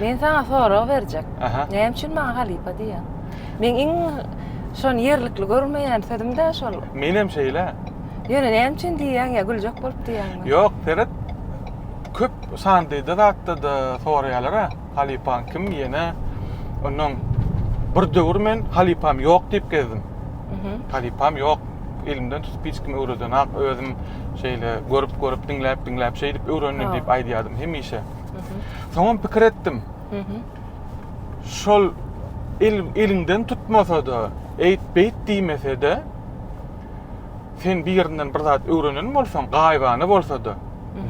Men sana sorag berjek. Näme üçin maňa halypa diýýär? Men iň şony ýerlikli görmeýän sözüm-de şol. Men hem şeýle. Ýöne näme üçin diýýäň ýa güljek bolup diýýäňmi? Ýok, seret. Köp sandyda zatda-da soraýarlar-a, halypaň kim diýene. Ondan bir döwür men halypam ýok diýip gezdim. Halypam ýok. Elimden tutup hiç kim öwredenok. Özüm şeýle görüp-görüp, diňläp-diňläp, şeýdip öwrendim diýip aýdýardym hemişe. Soňam pikir etdim. Şol el eliňden tutmasa-da, eýt-beýt diýmese-de, sen bir ýerinden bir zat öwrenen bolsaň, gaýybana bolsa-da,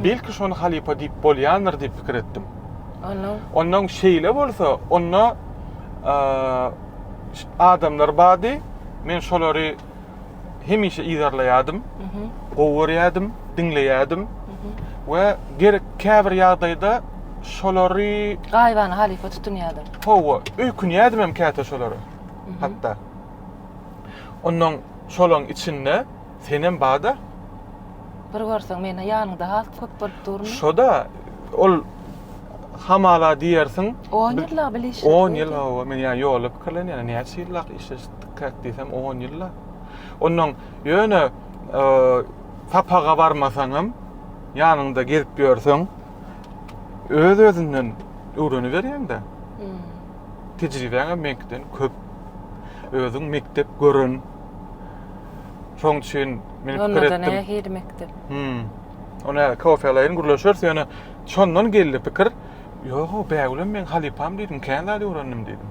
belki şony halypa diýip bolýandyr diýip pikir etdim. Onuň Ondan şeýle bolsa, onda eee, adamlar bardy, men şolary hemişe yzarlaýardym, gowy görýärdim, diňleýärdim we gerek käbir ýagdaýda şolary gaýybana halypa tutunýardyň. Hawa, öýkünýärdim hem käte şolara. Hatda. Ondan şolaň içinde senem bada. Bir görseň meni ýanyňda has köp bolup durmy? Şoda ol hamala diýersiň. 10 ýyllap bilişdik. 10 ýyl hawa, men ýa ýolda pikirlenýän, näçe ýyllap işleşdik. käk diýsem on ýylla. Ondan ýöne e, sapaga barmasaň hem ýanyňda gezip ýörseň öz özünden öwrenip berýäňde. Hmm. Tejribäň meňkiden köp. Özüň mekdep görün. Şoň üçin men pikir etdim. Onda ne hil mekdep? Hmm. Ona kofe alaýyn, gürleşeris ýöne şondan geldi pikir. Ýoga bägülem men halypam diýdim, kän zat öwrendim diýdim.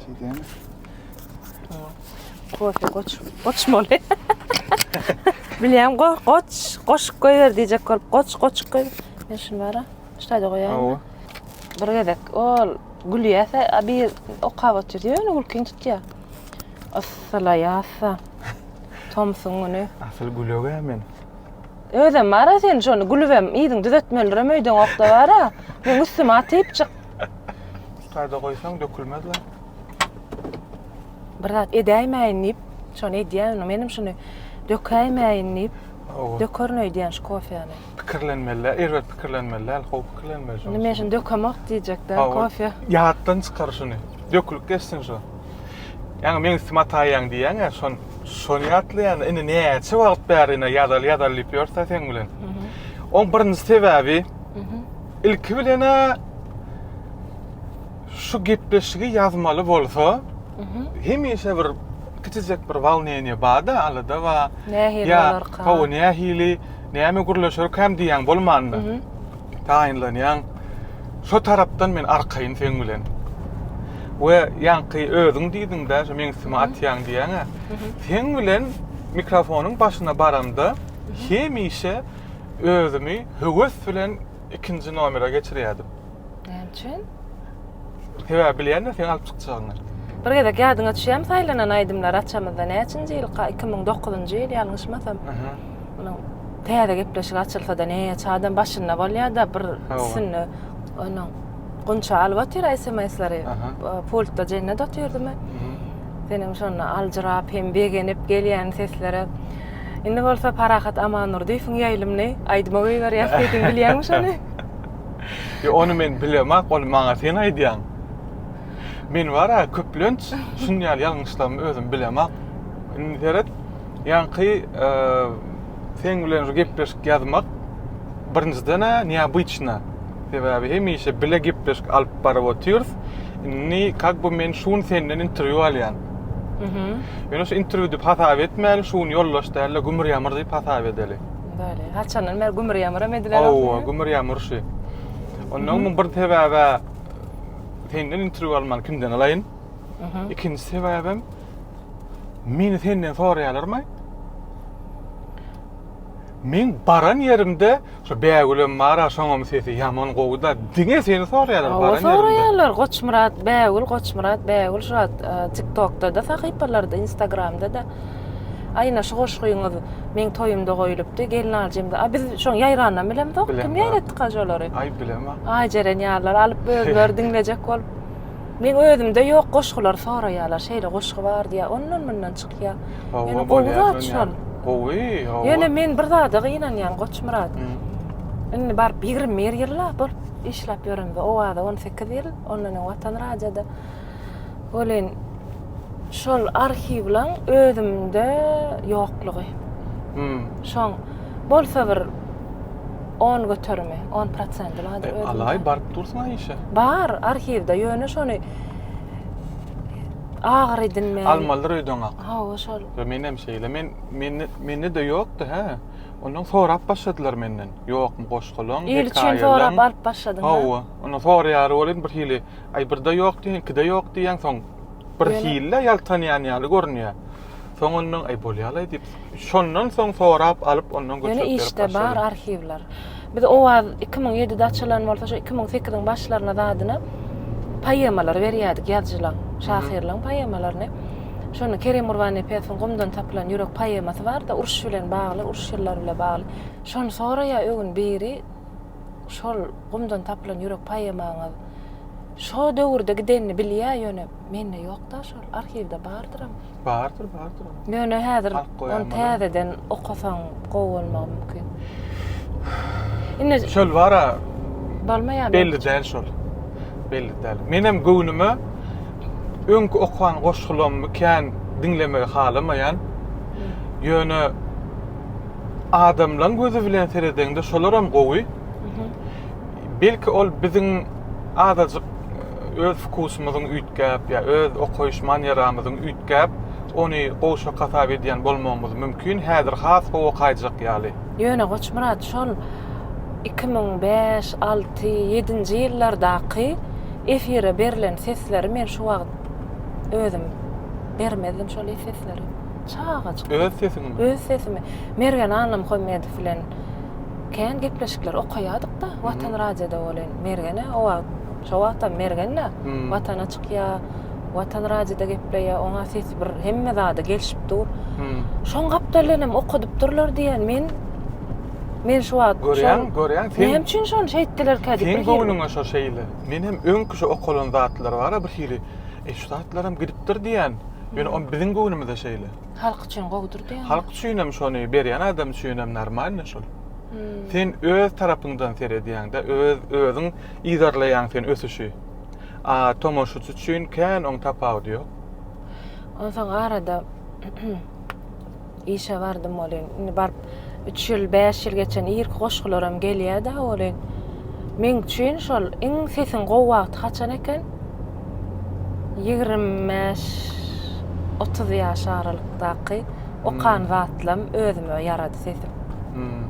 Şeyden. Kofe koç. Koç mu ne? Bilýän go koç, koşup koýer diýjek bolup, koç koçup koý. Men şunu bara. Şaýda goýaýyn. Awa. Bir gezek ol gülýäse, a bir okap otur diýär, ýöne gülkiň tutýar. Yssylaýasa. Tomsuň güni. Asyl gülögä men. Özem bara sen şonu gülübem yzyň düzetmelirim öýdüň okda bara. Meň üstüme atyp çyk. Ustada goýsaň dökülmez la. Bir zat edäýmäýin diýip, şony edýän, menem şuny dökäýmäýin diýip, dökerin öýdýän şu kofeni. Pikirlenmeli, erbet pikirlenmeli däl, gowy pikirlenmeli şony. Indi men şuny dökemok diýjek däl kofe. Ýatdan çykar şuny. Dökülip geçsin şu. Ýaňy meň üstüme ataýýaň diýýäň-ä, şon şony ýatlaýan. Indi näçe wagt bäri ýazaly ýazaly diýip ýörse seň bilen. Oň birinji sebäbi Ilki bilen-ä şu gepleşigi ýazmaly bolsa, hemişe bir kiçijek bir walneniýe bar-da, alada bar. Nähili bolarka? Hawa, nähili, näme gürleşerkäm diýýän bolmanda. Taýynlanýaň. Şo tarapdan men arkaýyn seň bilen. We ýaňky özüň diýdiň-dä, şu meň üstüme atýaň diýýäň-ä. Seň bilen mikrofonyň başyna baramda hemişe özümi höwes bilen ikinji nomere geçirýärdim. Näme üçin? Sebäbi bilýän-de seni alyp çykjagyny. Bir gezek ýadyňa düşýärmi saýlanan aýdymlary açamyzda näçinji ýylka, iki müň dokuzynjy ýyl ýalňyşmasam. Munuň täze gepleşigi açylsa-da näçe adam başynda bolýar-da bir üstünde onuň Gunça alyp otyr sms-leri pultda Jennet otyrdym men. Seniň şonda aljyrap hem begenip gelýän seslere Indi bolsa Parahat Amandurdyýewiň ýaýlymyny aýdyma goýberýäs diýdim, bilýäňmi şony? Ýok, ony men bilemok, ony maňa sen aýdýaň. Men bar-a, köplenç şuny ýaly ýalňyşlarymy özüm bilemok. Indi seret, ýaňky seň bilen şu gepleşik ýazmak birinjiden-ä neobyçna. Sebäbi hemişe bile gepleşik alyp baryp otyrys. Indi kak bu men şun senden intervýu alýan. Mhm. Ýöne şu interwýu diýip hasap etmäli, şun ýoldaş dälde gümür ýamyr diýip hasap edeli. Bäli. Haçandan bäri gümür ýamyr hem edilen. Hawa, gümür ýamyr şi. Ondan mhm. bir sebäbe senden interwýu alman kimden alaýyn? Mhm. Ikinji sebäbem meni senden soraýarlarmy? Meň baran ýerimde şu Bägülem bar-a şoňam sesi ýaman gowy-da. Diňe seni soraýarlar baran ýerimde. Hawa soraýarlar Goçmyrat Bägül, Goçmyrat Bägül şu wagt TikTok-da-da sahypalarda, Instagram-da-da. Aýna şu goşgyňyz meň toýumda goýlupdy, gelnaljymda. A biz şoň ýaýranam bilemzok. Kim ýaýratdyka şolary? Aý bilemok. Aý Jeren ýalylar alyp özleri diňlejek bolup. Meň özümde ýok goşgulary soraýarlar. Şeýle goşgy bar diýýär. Ondan-mundan çyk. ýa. Ýöne gowy zat şol. Gowy, hawa. Ýöne men bir zada gynanýan Goçmyrat. Indi baryp 21 ýyl la bolup işläp ýöremde Owaza 18 ýyl, ondan öň Watan radiýada. Welin şol arhiwleň özümde ýoklugy. Şoň bolsa bir on göterimi, on prosenti bar. Alaý baryp dursuň-a işe. Bar arhiwde, ýöne şony Agyr edinme. Almalydyr öýdüňak. Hawa şol. Yo menem şeýle. Men mende mende de ýokdy hä. Ondan sorap başladylar menden. Ýokmy goşgulaň, hekaýalaň. Il üçin sorap alyp başladyň. Hawa. Onda soraýar welin bir hili. Aý birde ýok diýen, ikide ýok diýen soň bir hili ýaltanýan ýaly görünýär. Soň ondan aý bolýalaý diýip, şondan soň sorap alyp ondan göçürip berip başladym. Ýöne işde bar arhiwler. Biz Owaz iki müň ýedide açylan bolsa şu iki müň sekiziň başlaryna zadyna poemalary berýärdik ýazyjylaň, şahyrlaň poemalaryny. Şony Kerem Gurbannepesowyň Gumdan tapylan ýürek poemasy bar-da, uruş bilen bagly, uruş ýyllary bilen bagly. Şony soraýar ögün biri şol Gumdan tapylan ýürek poemaňyz şo döwürde gidenini bilýär ýöne mende ýok-da şol, arhiwde bardyram. Bardyr, bardyr onuň. Ýöne häzir Halk goýanmaz ony onu. täzeden okasaň gowy bolmagy mümkin. Indi Çöl bara bolma ýa belli däl şol. Belli däl. Menem göwnüme öňki okan goşgulammy kän diňlemegi halamaýan. Ýöne adamlaň gözi bilen seredeňde şolaram gowy. Belki ol biziň azajyk öz wkusymyzyň üýtgäp ýa öz okaýyş manýeramyzyň üýtgäp ony gowşak hasap edýän bolmagymyz mümkin häzir has gowy okaýjak ýaly. Ýöne Goçmyrat şol iki müň bäş, alty, ýedinji ýyllardaky efire berlen sesleri men şu wagt özüm bermezdim şol sesleri. Çagajyk. Öz sesiňmi? Öz sesimi. Mergen Annamhomedow bilen Kän gepleşikler okaýadyk-da Watan radioda welin Mergen-ä o wagt, şo wagtam Mergen-ä Watana çykýa, Watan radioda gepleýä, oň-a sesi bir hemme zada gelşip dur. Şoň gapdalynam okadyp durlar diýen men Men şu wagt Görýäň, görýäň, sen Näme üçin şony şeýtdilerkä diýip Seň göwnüňe şo şeýle. Men hem öňki şo okalan zatlar bar-a birhili, e şu zatlaram gidipdir diýän. Ýöne o biziň göwnümize şeýle. Halk üçin gowudyr diýýäňmi? Halk üçinem şony berýän adam üçinem normalny şol. Hmm. Sen öz tarapyňdan seredýäňde, öz özüň yzarlaýaň sen ösüşi. A tomaşaçy üçin kän oň tapawudy ýok. Onsoň arada işe bardym welin, indi baryp üç ýyl, bäş ýyl geçen irki goşgularam gelýär-de welin, meň üçin şol iň sesiň gowy wagty haçan eken? Ýigrimi bäş, otuz ýaş aralykdaky okan hmm. wagtlam özüme ýarady sesim. Hmm.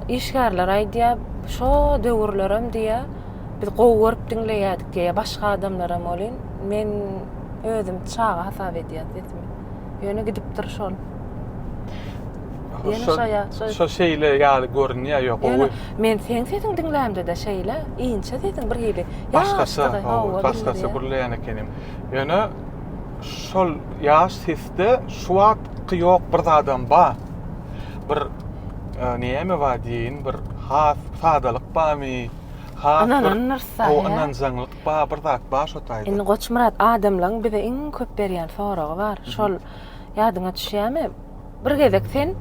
Işgärler aýdýar, şo döwürlerem diýýär, biz gowy görüp diňleýärdik diýýär, başga adamlaram welin, men özüm çaga hasap edýän sesimi. Ýöne gidipdir şol. Ýöne şo ýa şo. Şo şeýle ýaly görünýär ýok. Ýöne men seň sesiň diňlämde-de şeýle inçe sesiň bir hili. Başgaça, hawa, başgaça gürleýän ekenim. Ýöne şol ýaş sesde şu wagtky ýok bir zadam bar. Bir e, näme bar diýin, bir has sadalyk barmy? Has bir o ynanjaňlyk Ba bir zat bar şo taýda. Indi Goçmyrat adamlaň bize iň köp berýän soragy bar. Şol ýadyňa düşýämi? Bir gezek sen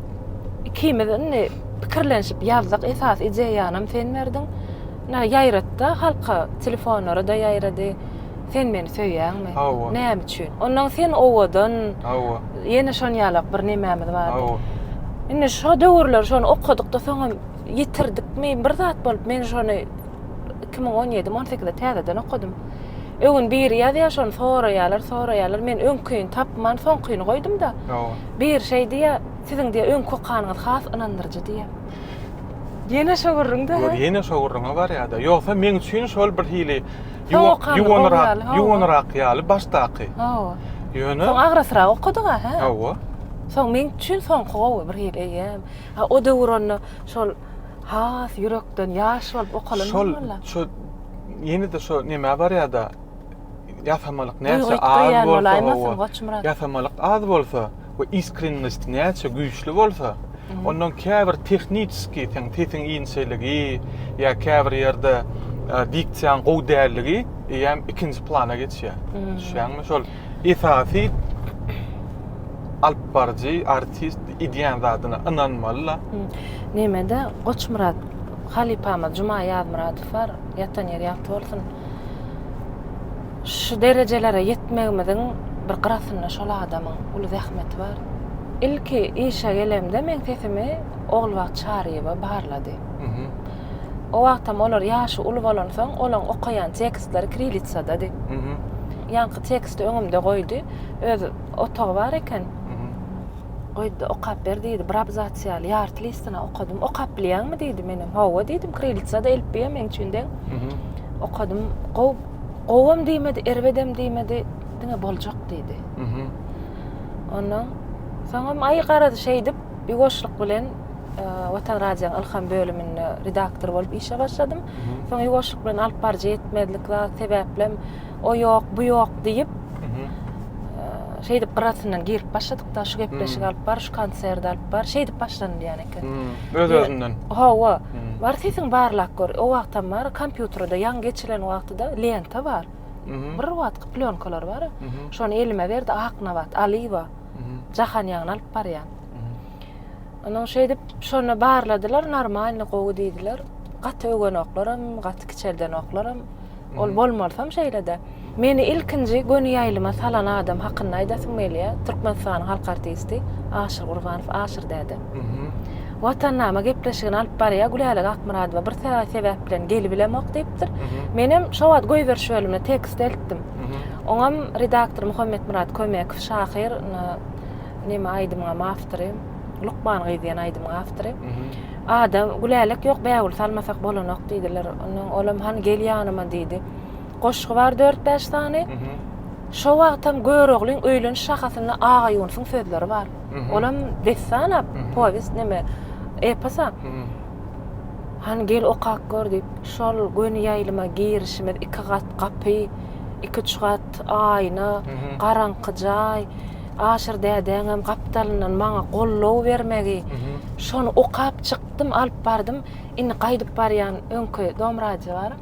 ikimiz indi pikirlenşip ýazdyk esasy ideýanam sen berdiň. Ine ýaýratda halka telefonlara da ýaýrady. Sen meni söýýäňmi? Hawa. Näme üçin? Ondan sen owadan. Hawa. Ýene şon ýalak bir nemämiz bardy. Hawa. Indi şo döwürler şony okadykda soňam ýitirdikmi, bir zat bolup, men şony iki müň on ýedi-on sekizde täzeden okadym. Öňüni biri ýazýar, şony soraýarlar, soraýarlar. Men öňküni tapman, soňkyny goýdum-da. Bir şey diýýär, siziň diýýär, öňki okanyňyz has ynandyryjy diýýär. Ýene şo gürrüň-de. Ýok, ýene şo gürrüňe barýar-da. Ýogsa meň üçin şol bir hili ýuwanyrak, ýuwanyrak ýaly başdaky. Hawa. Ýöne. Soň agrasrak okadyň-a, hä? Hawa. Soň meň üçin soňky gowy bir hili, eýýäm. Ha o döwür onda şol has ýürekden ýaş bolup okalan Şol bolmaly. şu ýene-de şu nämä barýar-da ýasamalyk Duýgy näçe az ýitdirýän bolsa bolaýmasyn, hawa, Goçmyrat? ýasamalyk az bolsa we iskrennost näçe güýçli bolsa, ondan käbir tehniçeskiý seň sesiň inçeligi ýa käbir ýerde e, diksiýaň gowy dälligi eýýäm ikinji plana geçýär. Düşýäňmi? Şol esasy alyp baryjy artist ideýan zadyna ynanmaly la nemede goçmyrat halypamyz juma ýazmyradow bar ýatan ýeri ýagty bolsun şu derejelere ýetmegimiziň bir gyrasynda şol adamyň uly zähmeti bar ilki işe gelemde meň sesimi ogulbagt çaryýewa barlady O wagtam olar ýaşy uly bolansoň, olaň okaýan tekstlary kirilitsadady. Ýaňky teksti öňümde goýdy. Öz otagy bar eken. Goýdy-da, okap ber diýdi. Bir abzas ýaly ýarty listini okadym. Okap bilýäňmi diýdi. Menem hawa diýdim. Kirilitsada elipbiýa meň üçin deň. Okadym. Gowy, gowam diýmedi, erbedem diýmedi. Diňe boljak diýdi. Ondan soňam, aý garaz şeýdip, ýuwaşlyk bilen, Watan Radioň Ylham bölüminde redaktor bolup işe başladym. Soň ýuwaşlyk bilen alyp baryjy ýetmezlik zat sebäplem o ýok, bu ýok diýip şeýdip gyrasyndan girip başladyk-da şu gepleşik alyp bar, şu konsert alyp bar, şeýdip başlandy ýaly eken. Öz-özünden. Hawa. Bar sesiň barlap gör. O wagtam bar, kompýuterde ýaňy geçilen wagtyda lenta bar. Bir wagtky plýonkalar bar. Şony elime berdi Aknabat Alyýewa. Jahan ýaňyny alyp barýan. Onuň şeýdip şony barladylar, normalny gowy diýdiler. Gaty öwenoklarym, gaty kiçeldenoklarym. Ol bolmalysam şeýle-de. Meni ilkinji göni ýaýlyma salan adam hakynda aýdasym gelýär. Türkmenistanyň halk artisti Aşyr Gurbanow, Aşyr däde. Watannama gepleşigini alyp barýar, Gülälek Akmyradowa bir sebäp bilen gelibilemok diýipdir. Menem şo wagt goýberiş bölümine tekst eltdim. Oňam redaktor Muhammetmyrat Kömekow, şahyr, neme aýdymyňam awtory lukman gyz diýen aýdymyň awtory ada gülälek ýok bägül salmasak bolanok diýdiler ondan olam hany gel ýanyma diýdi goşgy bar dört bäş sany şo wagtam göroglyň öýleniş şahasynda aga ýunusyň sözleri bar olam dessana powest neme eposa hany gel okap gör diýip şol göni ýaýlyma girişimiz iki gat gapy iki üç gat aýna garaňky jaý Aşyr dädäňem gapdalyndan maňa goldaw bermegi, şony okap çykdym, alyp bardym. Indi gaýdyp barýan öňki dom radio bar.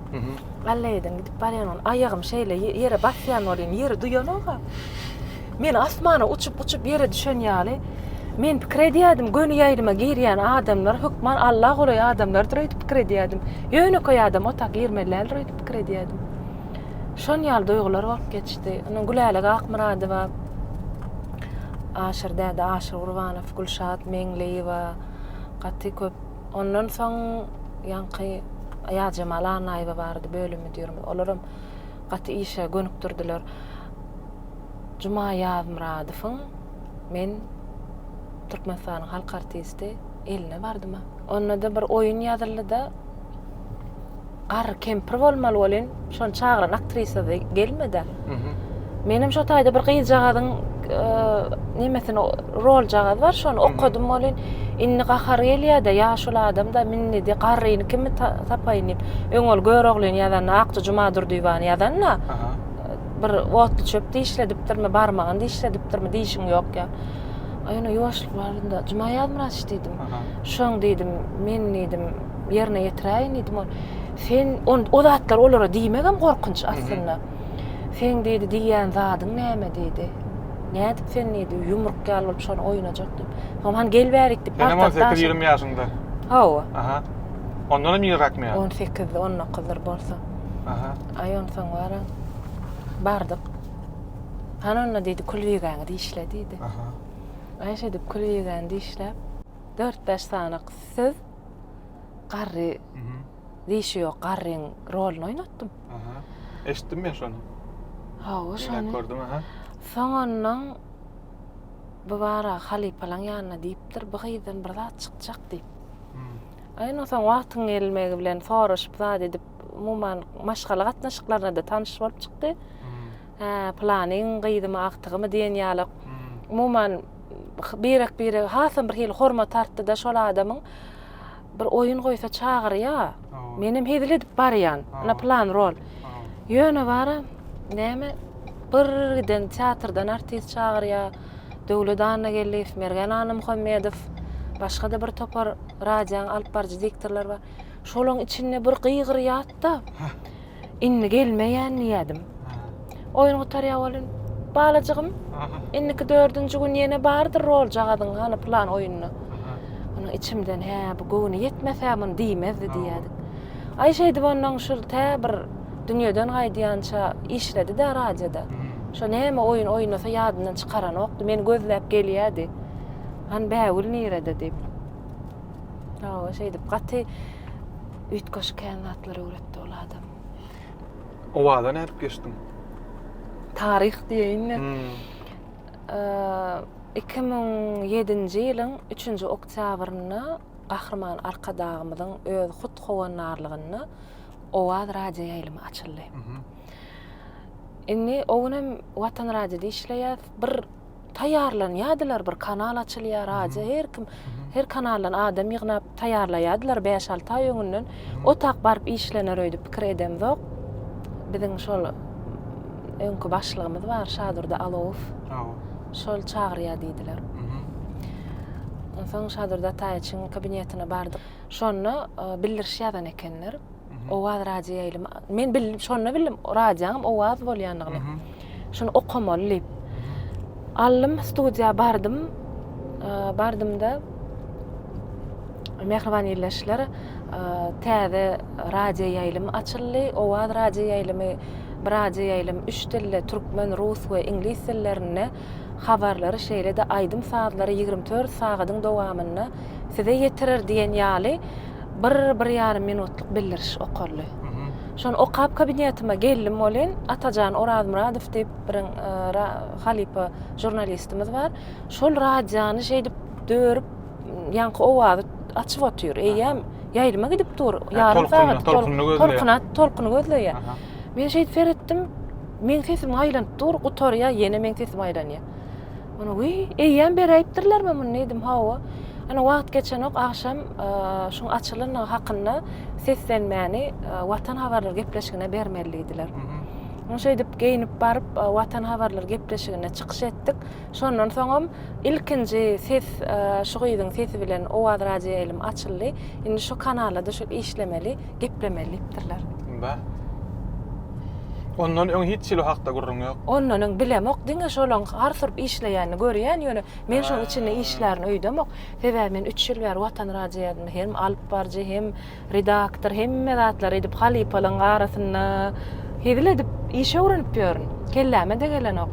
Allaýedan gidip barýan, aýagym şeýle ýere basýan welin, ýeri duýanok-a. Men asmana uçup-uçup ýere düşen ýaly. Men pikir edýärdim, göni ýaýlyma girýän adamlar hökman Alla golaý adamlardyr öýdüp pikir edýärdim. Ýönekeý adam ota girmelidäldir öýdüp pikir edýärdim. Şon ýaly duýgular bolup geçdi. Ony Gülälek Akmyradowa, Aşyr däde, Aşyr Gurbanow, Gülşat Meňliýewa gaty köp. Ondan soň ýaňky Aýazjemal Annaýewa bardy, bölüm müdirimiz. Olaram gaty işe gönükdirdiler. Juma Ýazmyradowyň men Türkmenistanyň halk artisti eline bardym-a. Onda-da bir oýun ýazyldy-da, Garry kempir bolmaly welin, şony çagyran aktrisa-da gelmedi. Menem şo taýda bir gyzjagazyň e, nemesini roljagaz bar, şony okadym welin, indi gahar gelýär-de, ýaşuly adam-da minnidi, garryny kimi tapaýyn diýip. Öň ol Göroglyny ýazanda, Akja Jumadurdyýewany ýazanda, bir otly çöp dişledipdirmi, barmagyny dişledipdirmi, dişiň ýok ýa. Aýna ýuwaşlyk barynda, Juma Ýazmyrat diýdim. Şoň diýdim, men diýdim, ýerine ýetiräýin diýdim ol. Sen on o zatlar olara diýmegem gorkunç aslynda. Sen diýdi, diýýän zadyň näme diýdi. Nädip sen diýdi, ýumruk ýaly bolup şony oýnajak diýip. Soň han gel bärik diýip. Sen 18-20 ýaşyňda. Hawa. Aha. Ondan hem ýyrakmy ýa? 18-de 19-dyr bolsa. Aha. Aý on soň bara. Bardyk. Han onda diýdi, külbigäňi dişle diýdi. Aha. Gaýyş edip küliýegäni dişläp, dört-bäş sanak söz garry dişi ýok garryň roluny oýnatdym. Aha. Eşitdim men şony. Hawa, şony. Diňläp gördüm, aha. Soňundan bu bara halypalaň ýanyna diýipdir, bu gyzdan bir zat çykjak diýip. Aý, indi soň wagtyň gelmegi bilen soraşyp, zat edip, umuman, maşgala gatnaşyklaryna-da tanyş bolup çykdy. Hä, pylanyň gyzymy, agtygymy diýen ýalak. Umuman, birek-birege hasam bir hili hormat artdy-da şol adamyň. Bir oýun goýsa çagyrýa. Menem hezil edip barýan. Ine, pylan rol. Ýöne bara, näme, bir giden teatrdan artist çagyrýa. Döwlet Annageldiýew, Mergen Annamuhammedow, başga-da bir topar radiýanyň alyp baryjy diktorlary bar. Şolaryň içinde bir gygyryýat-da. Indi gelmeýän diýýädim. Oýun gutarýar welin, balajygym, indiki dördünji gün ýene bardyr roljagazyň hany plan oýunda. Onuň içimden, hä, bu göwni ýetmese muny diýmezdi diýýädik. Aý şeýdip ondan şu tä bir dünýeden gaýdýança işledi-de radioda. Şo näme oýun oýnasa ýadyndan çykaranokdy, meni gözläp gelýärdi. Han Bägül nirede diýip. Hawa, şeýdip gaty üýtgeşik kän zatlar öwretdi. Ol adam. Owaza nädip geçdiň? Taryh diýeýinmi? Hmm. Eee, iki müň ýedinji ýylyň üçünji oktýabrynda Gahryman Arkadagymyzyň öz hut howandarlygynda Owaz radioýaýlymy açyldy. Indi o günem Watan radiosynda işleýäs. Bir Taýýarlanýadylar bir kanal açylýar aja her kim her kanaldan adam ýygnap taýýarlaýadylar bäş alty aý öňünden otak baryp işlener öýdüp pikir edemzok biziň şol öňki başlygymyz bar şadurdy alowow şol çagyrýar diýdiler onsoň şadurdy ataýewiçiň kabinetine bardyk şonda e, bildiriş ýazan ekenler Owaz radio ýaýlym. Men bil, şonda bildim, radionyň owaz bolýanyny. Şuny okamaly diýip. Aldym, studiýa bardym. Bardymda Mehriban ýerleşler täze radio ýaýlym açyldy. Owaz radio ýaýlymy bir radio ýaýlym üç dilde, türkmen, rus we iňlis dillerinde habarlary şeýle-de aýdym-sazlary 24 sagadyň dowamynda size ýetirer diýen ýaly bir, bir ýarym minutlyk bildiriş okaldy. Şony okap kabinetime geldim welin, Atajan Orazmyradow diýip bir halypa žurnalistimiz bar. Şol radiony şeýdip dörüp, ýaňky owazy açyp otyr. Eýýäm ýaýlyma gidip dur. Ýarym sagat tolkuny gözleýär. Tolkuny gözleýär. Men şeýdip seretdim. Meň sesim aýlanyp dur, gutarýar, ýene meň sesim aýlanýar. Ony wiý, eýýäm beräýipdirlermi muny diýdim. Hawa. Ana wagt geçenok, agşam şuň açylandygy hakynda seslenmäni Watan habarlary gepleşigine bermeli diýdiler. Muny şeýdip geýnip baryp Watan habarlary gepleşigine çykyş etdik. Şondan soňam ilkinji ses şu gyzyň sesi bilen Owaz radioýaýlym açyldy. Indi şu kanalda düşüp işlemeli. geplemeli diýipdirler. Ynha. Ondan öň hiç hili o hakda gürrüň ýok. Ondan öň bilemok, diňe şolaň har turup işleýänini görýän, ýöne men şoň içinde işlärin öýdemok. Sebäbi men üç ýyl bäri Watan radiýasynda hem alypbarjy, hem redaktor, hemme zatlary edip, halypalaň arasynda hezil edip iş öwrenip ýörün. Kelläme degelenok.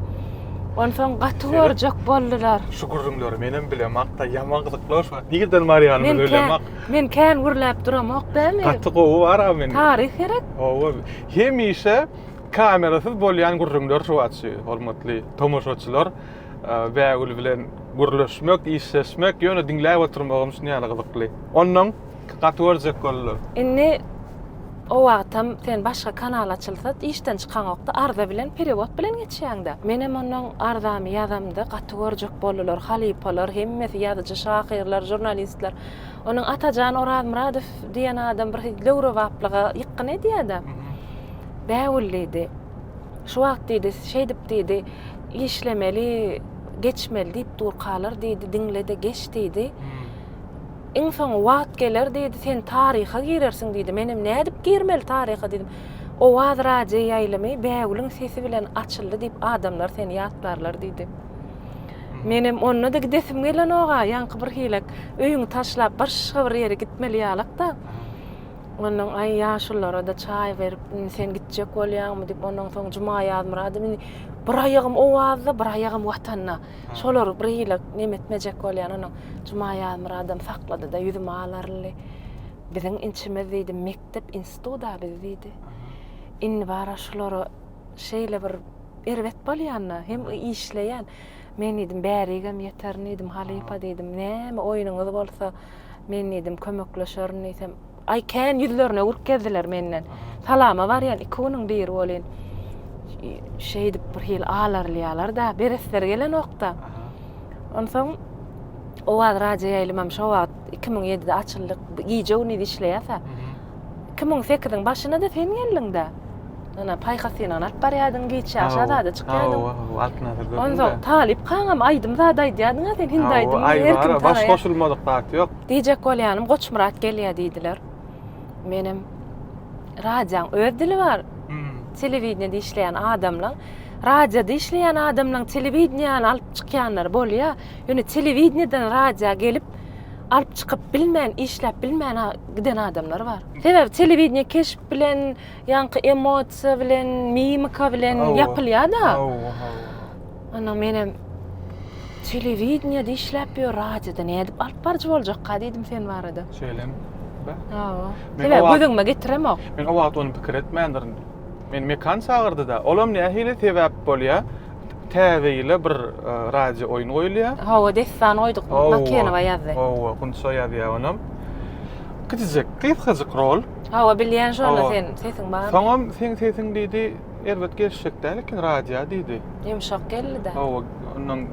Onsoň gaty görjek boldular. Şu gürrüňleri menem bilemak-da, ýaman gyzyklanç. Nirden barýanyny bilemak. Men kän gürläp duramok däli. Gaty gowy bar a men. Taryh gerek. Hawa. Hemişe kamerasyz bolýan gürrüňler şu açy. Hormatly tomaşaçylar, Bägül bilen gürleşmek, işleşmek, ýöne diňläp oturmagam şuny ýaly gyzykly. Onnoň gaty görjek boldular. Indi o wagtam sen başga kanal açylsa işden çykaňokda arza bilen perewod bilen geçýäňdä. Menem onnoň arzamy ýazamda gaty görjek boldular halypalar hemmesi ýazyjy şahyrlar žurnalistler. Onuň Atajan Orazmyradow diýen adam bir döwrebaplyga ýykgyn edýär-de. Bägül diýdi. Şu wagt diýdi, şeýdip diýdi, işlemeli, geçmeli diýip durkalar diýdi, diňle-de geç diýdi. Iň soňy wagt geler diýdi, sen taryha girersiň diýdi. Menem nädip girmeli taryha diýdim. Owaz radioýaýlymy Bägüliň sesi bilen açyldy diýip adamlar seni ýatlarlar diýdi. Menem onda-da gidesim gelenok-a, ýaňky bir hilek öýüňi taşlap başga bir ýere gitmeli ýalak-da. Ondan aý ýaşulylara-da çaý berip, indi sen gitjek bolýaňmy diýip, ondan soň Juma Ýazmyradow indi bir aýagym Owazda, bir aýagym Watanda. Şolary bir hile neme etmejek bolýan, ondan Juma Ýazmyradowam saklady-da, ýüzüme alaryldy. Biziň inçimiz diýdi, mekdep, institut-a biz diýdi. Indi bara şulara şeýle bir erbet bolýanda hem işleýän. Men diýdim, bärigem ýeterin diýdim, halypa diýdim. Näme oýnuňyz bolsa, men diýdim, kömekleşerin diýsem, aý kän ýüzlerine urup gezdiler menden. Salama barýan iki günüň biri bolýan. Şeýdip bir hil alarylýarlar-da, beresleri gelenok-da. Onsoň Owaz radioýaýlymam şo wagt 2007-de açyldy. Gije-gündiz işleýärse, Iki müň sekiziň başyna-da sen geldiň-dä. Ýöne paýhas sen alyp barýardyň, giç ýaş azada çykýardyň. Hawa, Altyn Asyrda. Onsoň Talyp kaňam aýdym zat aýdýardyň-a sen, hindi aýdym. Hawa, aýdym, baş goşulmadyk zat ýok. Diýjek bolýanym, Goçmyrat gelýär diýdiler. Menem, Radioň öz dili bar. Telewideniýede işleýän adamlaň, radioda işleýän adamlaň telewideniýäni alyp çykýanlary bolýar. Ýöne telewideniýeden radioa gelip, alyp çykyp bilmän, işläp bilmän giden adamlar bar. Sebäbi telewideniýe keşp bilen, ýaňky emosiýa bilen, mimika bilen ýapylýar-da. Hawa, hawa. Onda menem telewideniýede işläp ýör, radioda nädip alyp baryjy boljakka diýdim sen barada. Şeýlemi? Hawa. Sebäbi göz öňüme getiremok. Men o wagt ony pikir etmändirin. Meni Mekan çagyrdy-da. Olam nähili sebäp bolýar? täze ýyla bir e, radio oýun goýulýar. Hawa, dessan goýduk. Bakenowa ýazdy. Hawa, Gunça ýazýar onam. Kiçijek, gysgajyk rol. Hawa, bilýän şony sen, sesiň bar. Soňam sen sesiň diýdi, erbet gelişjek däl eken radio diýdi. Ýumşak geldi-de. Hawa, ondan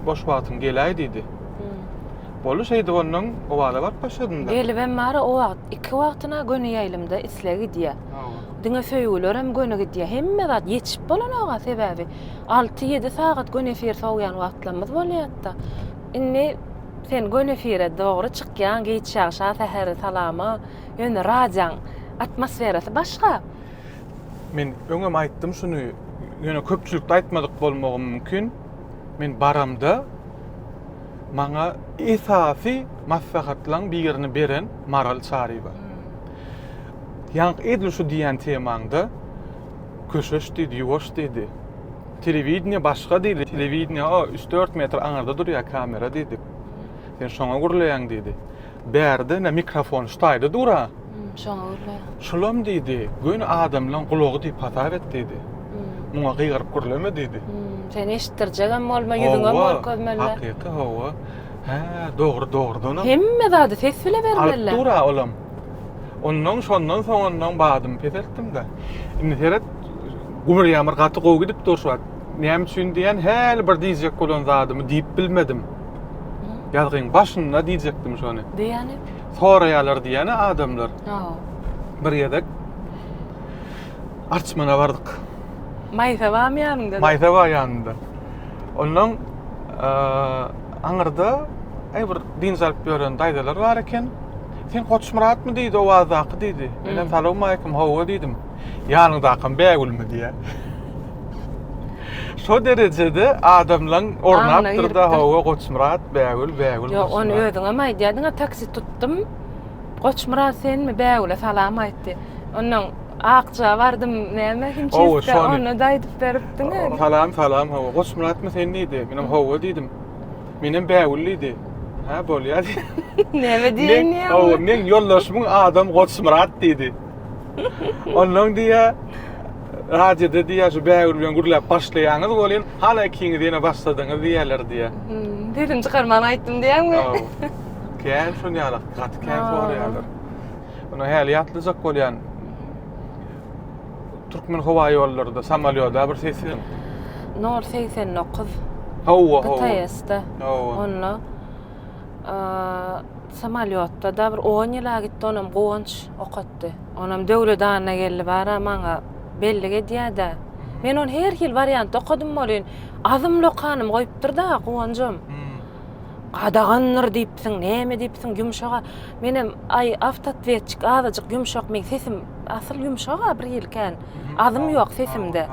boş wagtyň geläý diýdi. Hmm. Boldy, şeýdip ondan Owala baryp başladym-da. Gelibem bar, o wagt iki wagtyna göni ýaýlymda isle gidýär. Hawa. Diňe söýgülerem göni gidýär. Hemme zat ýetişip bolanok-a sebäbi alty, ýedi sagat göni efir sowýan wagtlarymyz bolýat-da. Indi sen göni efire dogry çykýaň, giç ýagşa, säheri salama, ýöne radioň atmosferasy başga. Men öňem aýtdym şuny, ýöne köpçülikde aýtmadyk bolmagym mümkin. Men baramda maňa esasy maslahatlaryň birini beren Maral Çaryýewa. Ýaňky edil şu diýýän temaňda köşeş diýdi, ýuwaş diýdi. Telewideniýe başga diýdi. Telewideniýe o üç-dört metr aňyrda durýar kamera diýdik. Sen şoňa gürleýäň diýdi. Bärde ine mikrofon şu taýda dur-a. Şoňa gürleýär. Şulam diýdi, göni adamlaryň gulagy diýip hasap et diýdi. Muňa gygyryp gürleme diýdi. Seni eşitdirjegem bolma, ýüzüňem görkezmeliler. Hakyky, hawa. Hä, dogry, dogrudanam. Hemme zady ses bile bermeliler. Alyp dur-a olam. Ondan şondan soňundan badymy peseltdim-de. Indi seret, gumur ýamyr gaty gowy gidip dur şu wagt. Näme üçin diýen häli bir diýjek bolan zadymy diýip bilmedim. Ýazgyň başynda diýjekdim şony. Diýýäni? Soraýarlar diýýäni adamlar. Ha. Bir gezek Arçmana bardyk. Maýsa barmy ýanyňda? Maýsa bar ýanymda. Ondan aňyrda bir dynç alyp ýören daýzalar bar eken. Sen Goçmyratmy? diýdi owazdaky, diýdi. Menem salowmaleýkim, hawa diýdim. Ýanyňdakam Bägülmi? diýýä. Şo derejede adamlaň ornapdyr-da, hawa, Goçmyrat, Bägül, Bägül, Goçmyrat. Ýok, ony özüňem aýdýardyň-a, taksi tutdum. Goçmyrat senmi? Bägüle salam aýtdy. Onnoň Akja bardym, näme, himçistge, ony-da aýdyp beripdiň-a. Salam, salam, hawa, Goçmyratmy sen? diýdi. Menem hawa diýdim. Menem bägül diýdi. Hä, bolýar diýdi. Näme diýýän ýa? Hawa, meň ýoldaşymyň adam Goçmyrat diýdi. Ondan diýýä, radioda diýýä şu bägül bilen gürläp başlaýaňyz welin, hala ikiňiz ýene başladyňyz diýýäler diýýä. Sesimi çykarman aýtdym diýýäňmi? Hawa. Kän şon ýalak, gaty kän soraýarlar. Ony häli ýatlyjak bolýan. Türkmen howa ýollaryda samolýoda bir seslen. Nor 89. Hawa, hawa. BTS-de. Hawa. Onda samolýotda da bir 10 ýyla gitdi, onam Guwanç okatdy. Onam Döwlet anna geldi bara maňa bellik edýär-de. Men ony her hil wariantda okadym welin, azymly okanym goýupdyr-da Guwanjam. Gadagandyr diýipsiň, näme diýipsiň ýumşaga. Menem, aý, awtootwetçik azajyk ýumşak, meň sesim asyl ýumşag-a birhili kän. Azym ýok sesimde.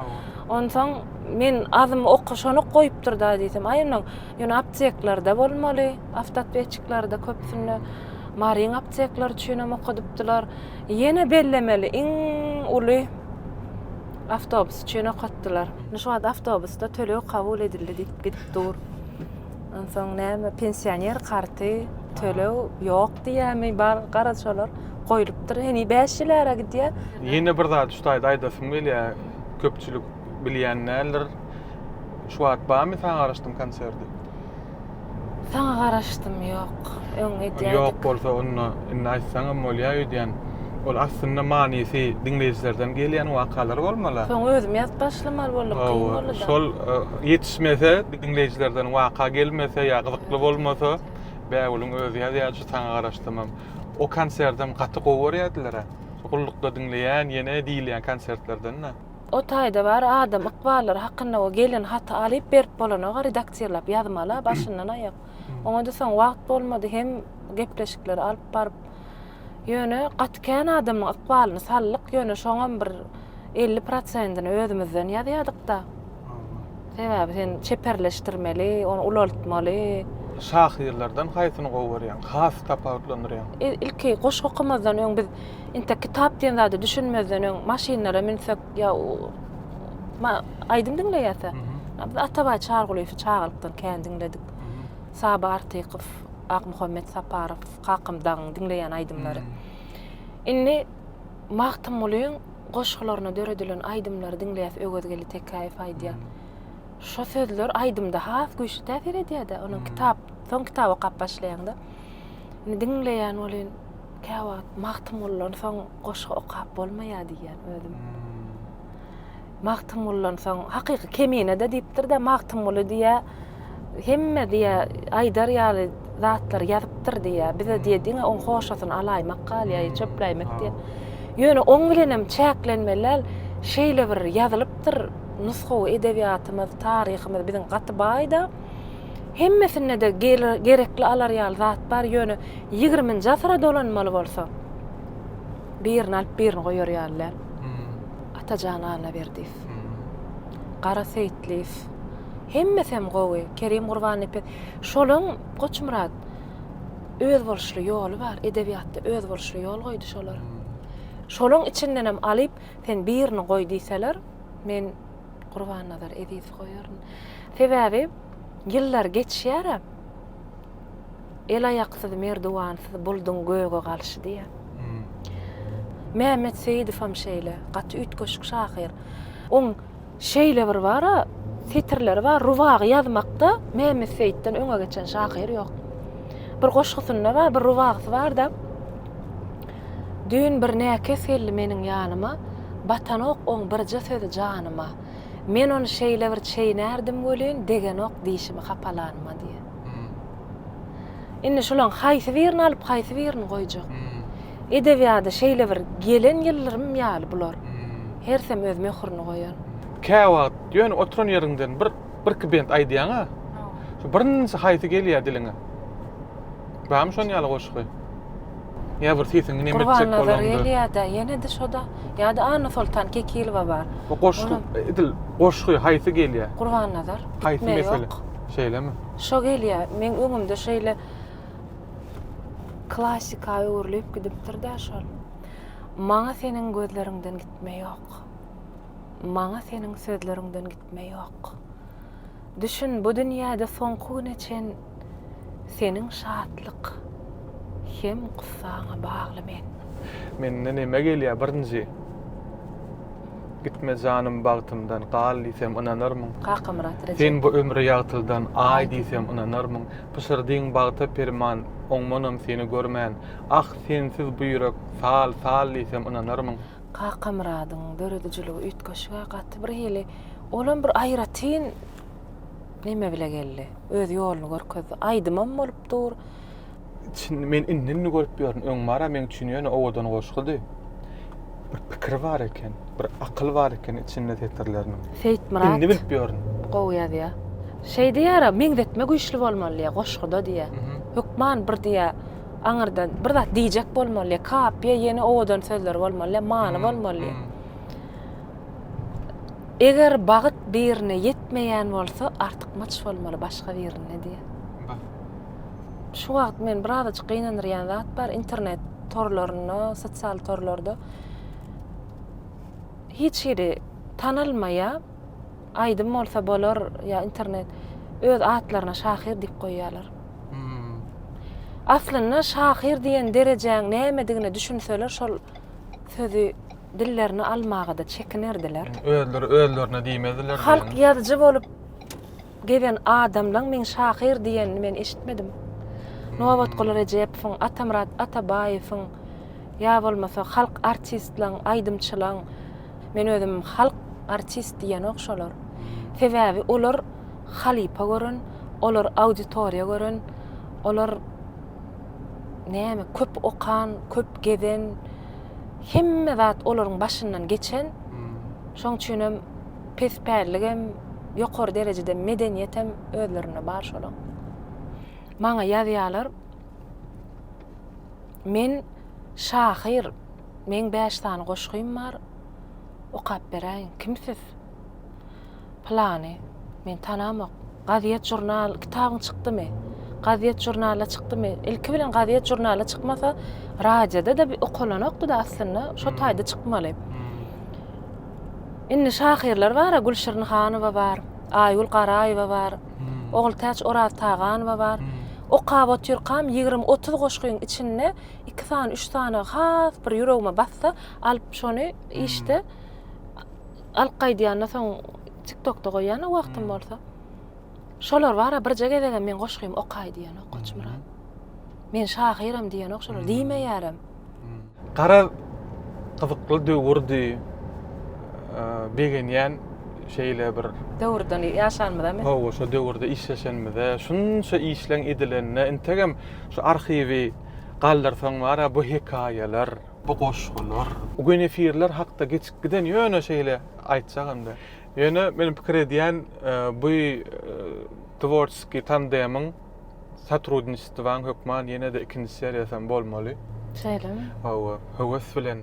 Onsoň men azym okaşanok goýupdyr-da diýsem, aý onnoň, ýöne apteklerde bolmaly, awtootwetçiklerde köpsünde. Maryň apteklary üçinem okadypdylar. Ýene bellemeli iň uly awtobus üçin okatdylar. Indi şu wagt awtobusda töleg kabul edildi diýip gidip dur. Onsoň näme pensioner karty töleg ýok diýýämi bar garaz şolar goýlupdyr heniz bäş ýyl ara gidýär. Ýene bir zat şu taýda aýdasym gelýär köpçülik bilýän däldir. Şu wagt barmy saňa garaşdym konserti? Saňa garaşdym ýok. öň edýärdik. Ýok bolsa onda indi aýtsaňam bolýa öýdýän. Ol aslynda manysy diňleýjilerden gelýän wakalar bolmaly. Soň özüm ýazyp başlamaly boldum kyn boldy da. Şol ýetişmese diňleýjilerden waka gelmese ýa gyzykly bolmasa Bägüliň özi ýazýar şu saňa garaşsamam. O konserdem gaty gowy görýärdilerä. Gullukda diňleýän ýene diýilýän konsertlerden-de. O taýda bar adam ykballary hakynda o gelen haty alyp berip bolanok-a redaktirlap ýazmaly-a başyndan aýak. Oňa-da soň wagt bolmady hem gepleşikleri alyp baryp. Ýöne gaty kän adamyň ykbalyny saldyk, ýöne şoňam bir elli prosentini özümizden ýazýardyk-da. Sebäbi sen çeperleşdirmeli, ony ulaltmaly. Şahyrlardan haýsyny gowy görýäň, has tapawutlandyrýaň? Ilki goşgy okamazdan öň biz intek kitap diýen zada düşünmezden öň maşynlara münsek, Ýa ma aýdym diňleýäsä. A biz Atabaý Çargulyýewi çagalykdan kän diňledik. Saba Artykow, Akmuhammet Saparow, Kakam dagyň diňleýän aýdymlary. Indi Magtymgulyň goşgularyna döredilen aýdymlary diňleýäs, Öwezgeli Tekäýew aýdýar. Şo sözler aýdymda has güýçli täsir edýär-dä, onuň kitap, soň kitap okap başlaýaň-da. Indi diňleýän welin, Käwagt Magtymguldan soň goşgy okap bolmaýar diýýän özüm. Magtymguldan soň hakyky Kemine-de diýipdir-de Magtymguly diýýä hemme diýýä aýdar ýaly zatlary ýazypdyr diýýä. Bize diýýä diňe oň hoşasyny alaýmak galýaý, çöpläýmek diýýä. Ýöne oň bilenem çäklenmeli däl. Şeýle bir ýazylypdyr nusgawy edebiýatymyz, taryhymyz biziň gaty baý-da. Hemmesinde-de gerekli alar ýaly zat bar, ýöne ýigriminji asyra dolanmaly bolsa, birini alyp birini goýar ýaly däl. Atajan Annaberdiýew, Gara Seýitliýew, hemmesem gowy, Kerim Gurbannepes, şolaň Goçmyrat özboluşly ýoly bar, edebiýatda özboluşly ýol goýdy şolar. Şolaň içindenem alyp, sen birini goý diýseler, men Gurbannazar Ezizi goýaryn. Sebäbi ýyllar geçýär-ä. El-aýaksyz, merduwansyz bulduň göge galşy diýýär. Mämmet Seýidowam şeýle, gaty üýtgeşik şahyr. Oň şeýle bir bar-a, setirleri bar, Rubagy ýazmakda Mämmet Seýitden öňe geçen şahyr ýok. Bir goşgusynda bar, bir rubagysy bar-da, Düýn bir näkes geldi meniň ýanyma, Batanok oň birje sözi janyma. Men ony şeýle bir çeýnärdim welin, Degenok dişimi hapalanyma diýýär. Indi şulaň haýsy birini alyp, haýsy birini goýjak? Edebiýada şeýle bir gelen ýyldyrym ýaly bular. Hersem öz möhürini goýan. Käwagt ýöne oturan ýeriňden bir birki bent aýdýaň-a, şu birinji haýsy gelýär diliňe? Barmy şonuň ýaly goşgy? Ýa bir sesiňi nemetjek bolanda. Gurbannazar gelýärde, ýene-de şoda. Ýa-da Annasoltan Kekilowa bar. Bu goşgy edil goşgy haýsy gelýär? Gurbannazar. Haýsy mesele? Şeýlemi? Şo gelýär. Meň öňümde şeýle klasika öwrülip gidipdir-de şol. Maňa seniň gözleriňden gitme ýok. Maňa seniň sözleriňden gitme ýok. Düşün, bu dünýäde soňky güne çen seniň şatlyk hem gussaňa bagly men. Mende neme gelýär birinji? Gitme janym bagtymdan, gal diýsem ynanarmyň? Kakamyrat Rejep. Sen bu ömre ýagtyldan, aý diýsem ynanarmyň? Pyşyrdyň bagta perman, oňmanam seni görmän. Ah, sensiz bu ýürek, sal, sal diýsem ynanarmyň? Kakamyradyň döredijiligi üýtgeşik-ä, gaty bir hili, olam bir aýratyn neme bile geldi, öz ýoluny görkezdi. Aýdymam bolup dur. Çyn, men indi-indi görüp ýörün, öň bar-a meň üçin ýöne owadan goşgudy. Bir pikir bar eken, bir akyl bar eken içinde setirleriniň. Seýitmyrat. Indi bilip ýörün. Gowy ýazýa. Şeý diýýär-ä, meňzetme güýçli bolmaly diýýä, goşguda diýýä. Hökman bir diýýä. Aňyrda bir zat diýjek bolmaly, kapiýa ýene owadan sözler bolmaly, many bolmaly. Eger bagyt birine ýetmeýän bolsa, artykmaç bolmaly başga birinde diýýär. Şu wagt men birazajyk gynandyrýan zat bar, internet torlarynda, sosial torlarda hiç hili tanalmaýar. aýdym bolsa bolar ýa internet öz atlaryna şahyr diýip goýýarlar. Hmm. Aslynda şahyr diýen derejäň nämedigine düşünseler şol sözi dillerine almagada çekinerdiler. Özleri özlerine diýmezdiler. Halk ýazyjy bolup Gezen adamlaň meň şahyr diýenini men eşitmedim. Nobatguly Rejepowyň, Atamyrat Atabaýewiň ýa bolmasa halk artistlaň, aýdymçylaň, men özüm halk artist diýenok şolar. Sebäbi olar halypa gören, olar auditoriýa gören, olar näme köp okan, köp gezen, hemme zat olaryň başyndan geçen. Şoň üçinem. Pes pälligem, ýokary derejede medeniýetem özlerinde bar şolaň. Maňa ýazýarlar, Men şahyr, meň bäş sany goşgym bar, okap beräýiň, kim siz? Pylany, men tanamok, gazýet žurnal, kitabyň çykdymy? Gazýet žurnala çykdymy? Ilki bilen gazýet žurnala çykmasa, radioda-da okalanokdy-da aslynda, şo taýda çykmaly. Indi şahyrlar bar-a, Gülşirin Hanowa bar, Aýgül Garaýewa bar, Ogultäç Oraztaganowa bar. Okap otyrkam ýigrimi-otuz goşgyň içinde iki sany, üç sany has bir ýüregime batsa, alyp şony işde alyp gaýdýan-da, soň TikTokda goýýan-a wagtym bolsa. Şolar bar-a, birje gezegem men goşgymy okaý diýenok Goçmyrat. Men şahyram diýenok şolar, diýmeýärem. Garaz gyzykly döwürdi. Begenýän şeýle bir döwürden ýaşanymyzamy? Hawa, şo döwürde işleşenimize, şunça işleň edilenine integem şu arhiwi galdyrsaň bar ya bu hekaýalar, bu goşgular, bu genefirler hakda geçip giden ýöne şeýle aýtjagymda. Ýöne men pikir edýän bu tworçeskiý tandemyň Sotrudniçestwaň hökman ýene-de ikinji seriýasam bolmaly. Şeýlemi? Hawa, höwes bilen.